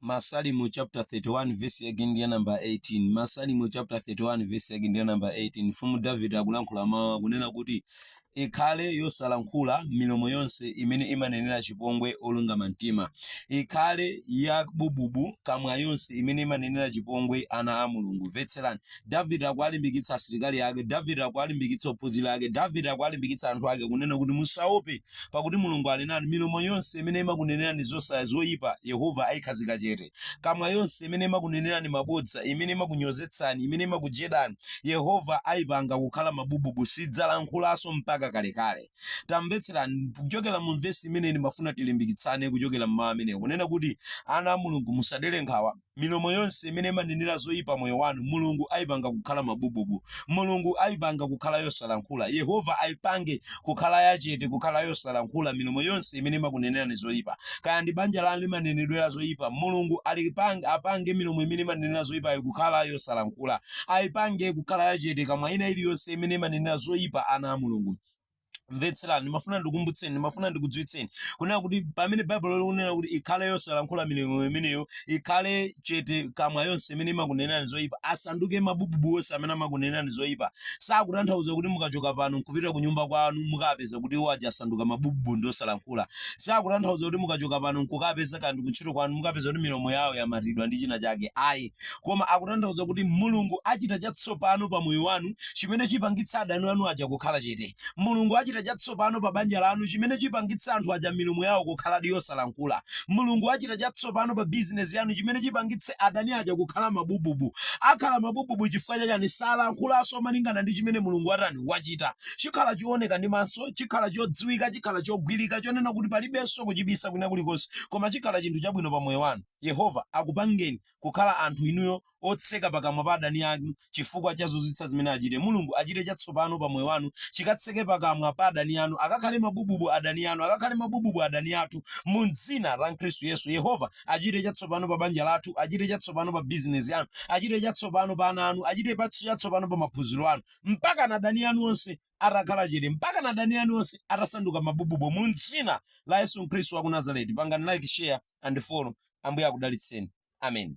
Masalimo chapter 31 verse yake ndi ya number 18 Masalimo chapter 31 verse yake ndi ya number 18 mfumu Davide akulankhula mawu akunena kuti ikhale yosalankhula milomo yonse imene imanenera chipongwe olungama mtima ikhale yabububu kamwa yonse imene imanenera chipongwe ana a mulungu vetserani davide akuwalimbikitsa asilikali ake davide akuwalimbikitsa ophunzira ake davide akuwalimbikitsa anthu ake kunena kuti musaope Pakuti Mulungu ali nanu. Milomo yonse imene imakunenerani zosaya, zoipa, Yehova aikhazika chete. Kamwa yonse imene imakunenerani mabodza, imene imakunyozetsani, imene imakujedani, Yehova aipanga kukhala mabububu, sidzalankhulanso mpaka kalekale. Tamvetserani, kuchokera mu vesi imeneyi ndimafuna tilimbikitsane kuchokera m'mawu amenewa, kunena kuti, Ana a Mulungu, musadere nkhawa. Milomo yonse imene imanenera zoyipa moyo wanu, Mulungu ayipanga kukhala mabububu. Mulungu ayipanga kukhala yosalankhula. Yehova ayipange kukhala yachete, kukhala yosalankhula, milomo yonse imene imakunenerani zoyipa. Kaya ndi banja lanu limanenedwera zoyipa, Mulungu alipange, apange milomo imene imanenera zoyipayo kukhala yosalankhula. Ayipange kukhala yachete, kamwa ina iliyonse imene imanenera zoyipa ana a Mulungu. mvetserani ndimafuna ndikumbutseni ndimafuna ndikudziwitseni kunena kuti pamene baibulo likunena kuti ikhale yosalankhula milomo imeneyo ikhale chete kamwa yonse imene imakunenerani zoyipa asanduke mabububu onse amene amakunenerani zoyipa sakutanthauza kuti mukachoka pano nkupita ku nyumba kwanu mukapeza kuti iwo aja asanduka mabububu ndi osalankhula sakutanthauza kuti mukachoka pano nkukapeza kandi kuntchito kwanu mukapeza kuti milomo yawo yamatidwa ndi china chake ayi koma akutanthauza kuti Mulungu achita chatsopano pa moyo wanu chimene chipangitsa adani anu aja kukhala chete. Mulungu achita chatsopano pa banja lanu chimene chipangitsa anthu aja milomo yawo kukhaladi yosalankhula. Mulungu achita chatsopano pa bizinesi yanu chimene chipangitse adani aja kukhala mabububu. Akhala mabububu chifukwa chachani? Salankhulanso malingana ndi chimene Mulungu watani? Wachita. Chikhala chooneka ndi maso, chikhala chodziwika, chikhala chogwirika chonena kuti palibenso kuchibisa kwina kulikonse koma chikhala chinthu chabwino pa moyo wanu. Yehova akupangeni. kukhala anthu inuyo otseka pakamwa pa adani anu chifukwa cha zozizwitsa zimene achite. Mulungu achite chatsopano pa moyo wanu chikatseke pakamwa pa adani anu. Akakhale mabububu adani anu. Akakhale mabububu adani athu mu dzina la Khristu Yesu. Yehova achite chatsopano pa banja lathu. Achite chatsopano pa bizinesi yanu. Achite chatsopano pa ana anu. Achite chatsopano pa maphunziro anu. Mpakana adani anu onse atakhala chete mpakana adani anu onse atasanduka mabububu mu dzina la Yesu Khristu wa ku Nazareti. Pangani like, share and follow. Ambuye akudalitseni. Amen.